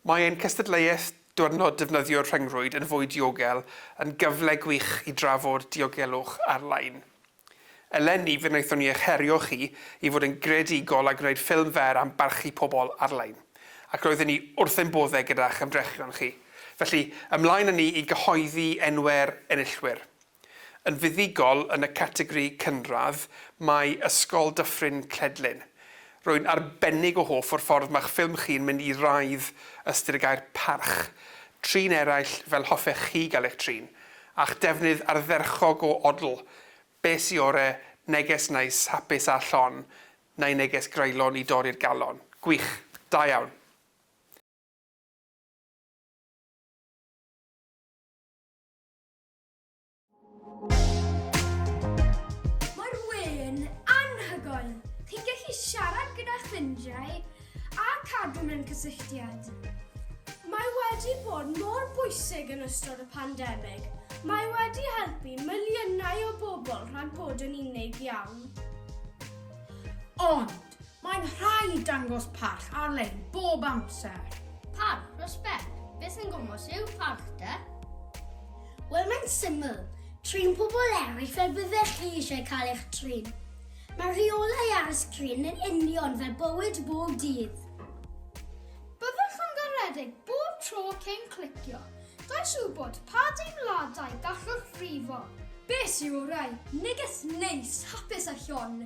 Mae ein cystadleuaeth Diwrnod Defnyddio'r Rhyngrwyd yn Fwy Diogel yn gyfle gwych i drafod diogelwch ar-lein. Eleni, fe wnaethon ni eich herio chi i fod yn greadigol a gwneud ffilm fer am barchu pobl ar-lein, ac roedden ni wrth ein boddau gyda'ch ymdrechion chi. Felly, ymlaen â ni i gyhoeddi enwau'r enillwyr. Yn fuddugol yn y categori cynradd mae Ysgol Dyffryn Cledlyn. Rwy'n arbennig o hoff o'r ffordd mae'ch ffilm chi'n mynd i raidd ystyr y gair parch. Trin eraill fel hoffech chi gael eich trin. A'ch defnydd ardderchog o odl. Be sy ore, neges neis, hapus a llon, neu neges greulon i dorri'r galon. Gwych. Da iawn. Mae'r we'n anhygoel! Chi'n gallu siarad gyda ffrindiau a cadw mewn cysylltiad. Mae wedi bod mor bwysig yn ystod y pandemig. Mae wedi helpu miliynau o bobl rhag bod yn unig iawn. Ond, Mae'n rhaid dangos parch ar-lein bob amser. Parch, respect. Beth sy'n gwmwys yw parch de? Wel, mae'n syml. Trin pobl eraill fel byddech chi eisiau cael eich trin. Mae rheolau ar y sgrin yn union fel bywyd bob dydd. Byddwch yn garedig bob tro cyn clicio. Does wybod pa deimladau gallwch frifo. Beth sy'n orau? Neges neis, hapus a llon.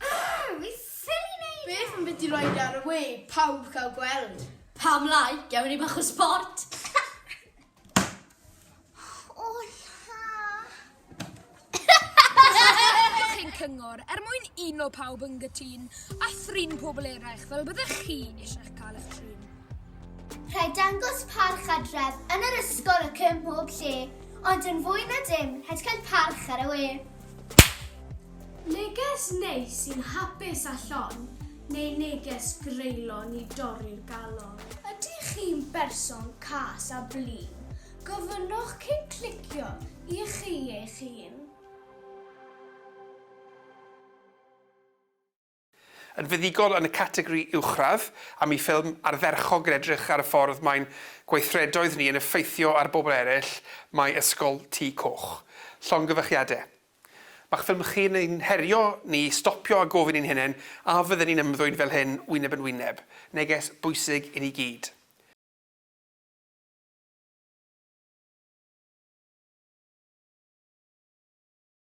Argh! Fi ffili neud e! Beth am biti roi fe ar y we, pawb cael gweld. Pam lai, gewn ni bach o sport. O la! Diolch ein cyngor er mwyn uno pawb yn gytun a thrin pobl eraill fel byddech chi eisiau cael eich trin. Rhaid dangos parch adref yn yr ysgol ac ym mhob lle, ond yn fwy na dim, rhaid cael parch ar y we. Neges neis sy'n hapus a llon, neu neges greulon i dorri'r galon? Ydych chi'n berson cas a blin? Gofynnwch cyn clicio i chi eich hun. Yn fuddugol yn y categori uwchradd, am y ffilm ardderchog yn edrych ar y ffordd mae'n gweithredoedd ni yn effeithio ar bobl eraill, mae Ysgol Tŷ Coch. Llongyfarchiade. Mae'ch ffilm chi yn ein herio ni i stopio a gofyn i'n hunain a fydden ni'n ymddwyn fel hyn wyneb yn wyneb. Neges bwysig i ni gyd.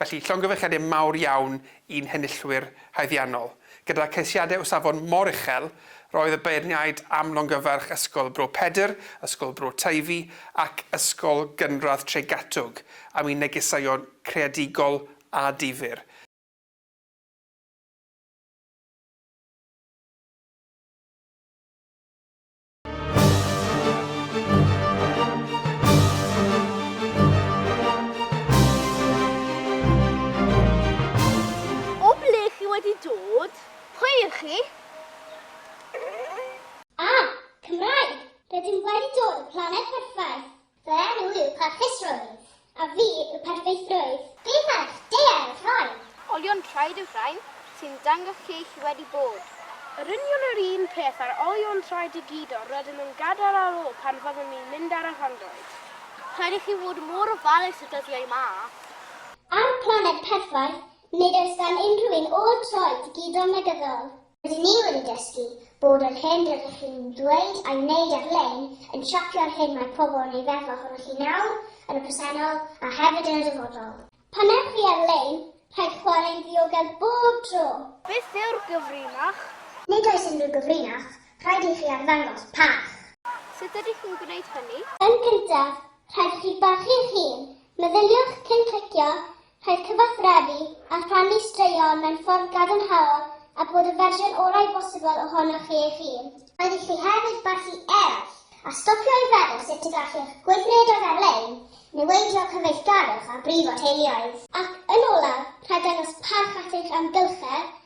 Felly, llongyfarchiadau mawr iawn i'n henillwyr haeddiannol. Gyda ceisiadau o safon mor uchel, roedd y beirniaid am longyfarch Ysgol Bro Pedr, Ysgol Bro Teifi ac Ysgol Gynradd Tregatwg am eu negeseuon creadigol a difyr. O ble chi wedi dod? Pwy ych chi? Ah! Cymraeg! Rydym wedi dod o Planed Perffaith! Fy enw yw Parchusrwydd. A fi yw Perffeithrwydd. Be mae'r deau'n rhoi? Olion traed yw'r rhain sy'n dangos lle chi wedi bod. Yr union yr un peth â'r olion traed i gyd yr ydym yn gadael ar ôl pan fyddwn ni'n mynd ar y rhyngrwyd. Rhaid i chi fod mor ofalus y dyddiau 'ma. Ar y planed perffaith, nid oes gan unrhyw un ôl traed i gyd ond negyddol. Rydyn ni wedi dysgu bod yr hyn rydych chi'n ddweud a'i wneud ar-lein yn siapio'r hyn mae pobl yn ei feddwl ohonoch chi nawr, yn y presennol, a hefyd yn y dyfodol. Pan ewch chi ar-lein, rhaid chwarae'n ddiogel bob tro! Beth yw'r gyfrinach? Nid oes unrhyw gyfrinach, rhaid i chi arddangos parch. Sut ydych chi'n gwneud hynny? Yn gyntaf, rhaid i chi barchu'ch hun. Meddyliwch cyn clicio Rhaid cyfathrebu a rhannu straeon mewn ffordd gadarnhaol a bod y fersiwn orau bosibl ohonoch chi eich hun. Rhaid i chi hefyd barchu eraill, a stopio i feddwl sut y gallwch gweithredoedd ar-lein niweidio cyfeillgarwch a brifo teuluoedd. Ac yn olaf, rhaid dangos parch at eich amgylchedd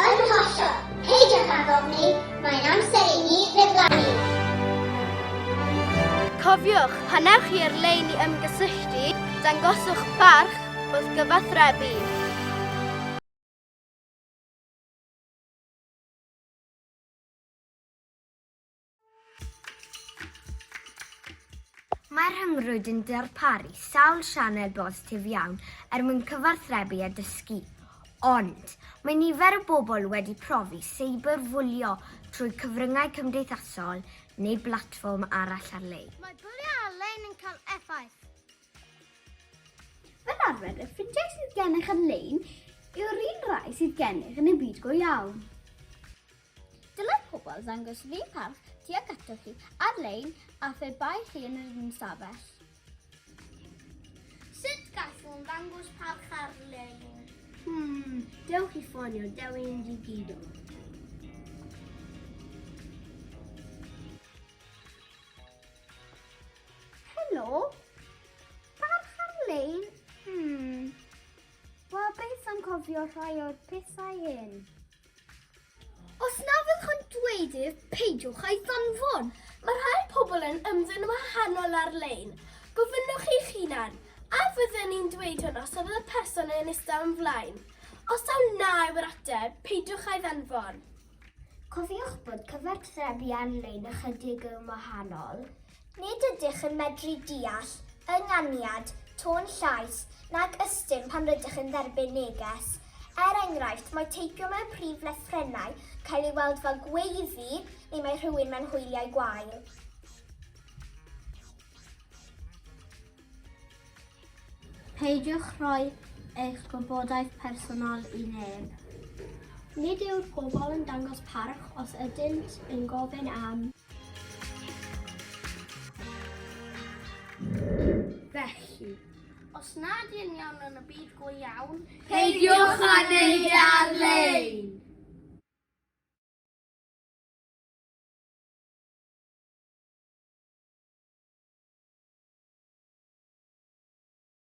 Yn hollol! Peidiwch ag ofni, mae'n amser i ni ddiflannu! Cofiwch, pan ewch chi ar-lein i ymgysylltu, dangoswch barch wrth gyfathrebu. Mae'r rhyngrwyd yn darparu sawl sianel bositif iawn er mwyn cyfathrebu a dysgu. Ond, mae nifer o bobl wedi profi seiberfwlio trwy cyfryngau cymdeithasol neu blatfform arall ar-lein. Mae bwlio ar-lein yn cael effaith. Fel arfer, y ffrindiau sydd gennych ar-lein yw'r un rai sydd gennych yn y byd go iawn. Dylai pobl ddangos run parch tuag atoch chi ar-lein a phe bai chi yn yr un stafell. Sut gallwn ddangos parch ar-lein? Hmm, dewch i ffonio Dewi yn digidol. Helo? Parch ar-lein? Hmm. Wel, beth am cofio rhai o'r pethau hyn? Os na fyddwch yn dweud ef, peidiwch a'i ddanfon. Mae rhai pobl yn ymddwyn yn wahanol ar-lein. Gofynnwch chi'ch hunan, a fydden i'n dweud hwn os oedd y person yn eistedd o'm flaen? Os taw na yw'r ateb, peidiwch a'i ddanfon. Cofiwch bod cyfathrebu ar-lein ychydig yn wahanol. Nid ydych yn medru deall ynganiad, tôn llais, nag ystum pan rydych yn dderbyn neges. Er enghraifft, mae teipio mewn prif lythrennau cael ei weld fel gweiddi neu mae rhywun mewn hwyliau gwael. Peidiwch rhoi eich gwybodaeth personol i neb. Nid yw'r pobl yn dangos parch os ydynt yn gofyn am. Felly, os nad yn iawn yn y byd go iawn, peidiwch â neud e ar-lein!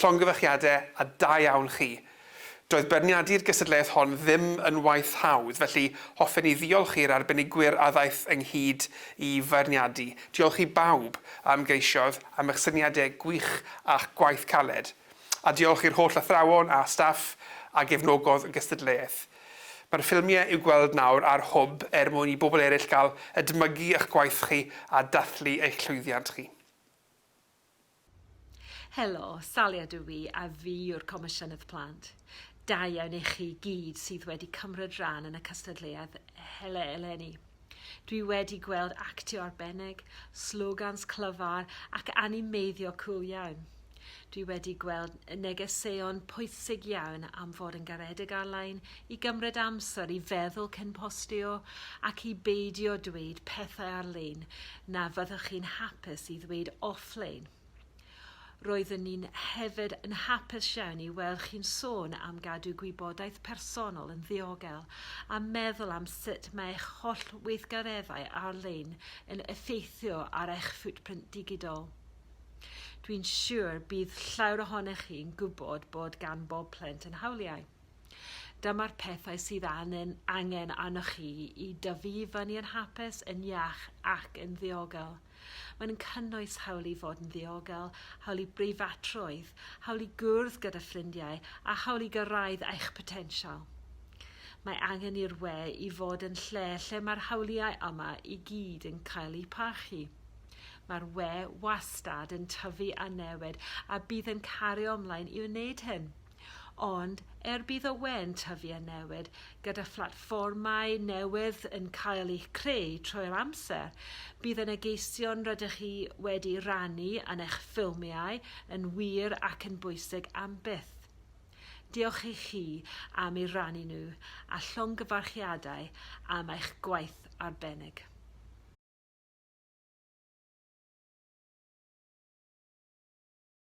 Llongyfarchiadau a da iawn chi. Doedd beirniadu'r gystadleuaeth hon ddim yn waith hawdd, felly hoffen i ddiolch i'r arbenigwyr a ddaeth ynghyd i feirniadu. Diolch i bawb a ymgeisiodd am eich syniadau gwych a'ch gwaith caled. A diolch i'r holl athrawon a staff a gefnogodd y gystadleuaeth. Mae'r ffilmiau i'w gweld nawr ar Hwb er mwyn i bobl eraill gael edmygu eich gwaith chi a dathlu eich llwyddiant chi. Helo, Salia dw i a fi yw'r Comisiynydd Plant. Da iawn i chi gyd sydd wedi cymryd rhan yn y cystadleuaeth eleni. Dwi wedi gweld actio arbennig, slogans clyfar ac animeiddio cŵl iawn. Dwi wedi gweld negeseuon pwysig iawn am fod yn garedig ar-lein, i gymryd amser i feddwl cyn postio ac i beidio dweud pethau ar-lein na fyddwch chi'n hapus i ddweud off-lein. Roeddwn ni'n hefyd yn hapus iawn i weld chi'n sôn am gadw gwybodaeth personol yn ddiogel a meddwl am sut mae eich holl weithgareddau ar-lein yn effeithio ar eich footprint digidol. Dwi'n siŵr bydd llawer ohonych chi'n gwybod bod gan bob plentyn yn hawliau. Dyma'r pethau sydd angen, angen arnoch chi i dyfu i fyny yn hapus, yn iach ac yn ddiogel. Mae'n cynnwys hawl i fod yn ddiogel, hawl i breifatrwydd, hawl i gwrdd gyda ffrindiau a hawl i gyrraedd eich potensial. Mae angen i'r we i fod yn lle lle mae'r hawliau yma i gyd yn cael eu parchu. Mae'r we wastad yn tyfu a newid a bydd yn cario ymlaen i wneud hyn. Ond, er bydd y we'n tyfu a newid, gyda phlatfformau newydd yn cael eu creu trwy'r amser, bydd y negeseuon rydych chi wedi rannu yn eich ffilmiau yn wir ac yn bwysig am byth. Diolch i chi am eu rannu nhw, a llongyfarchiadau am eich gwaith arbennig.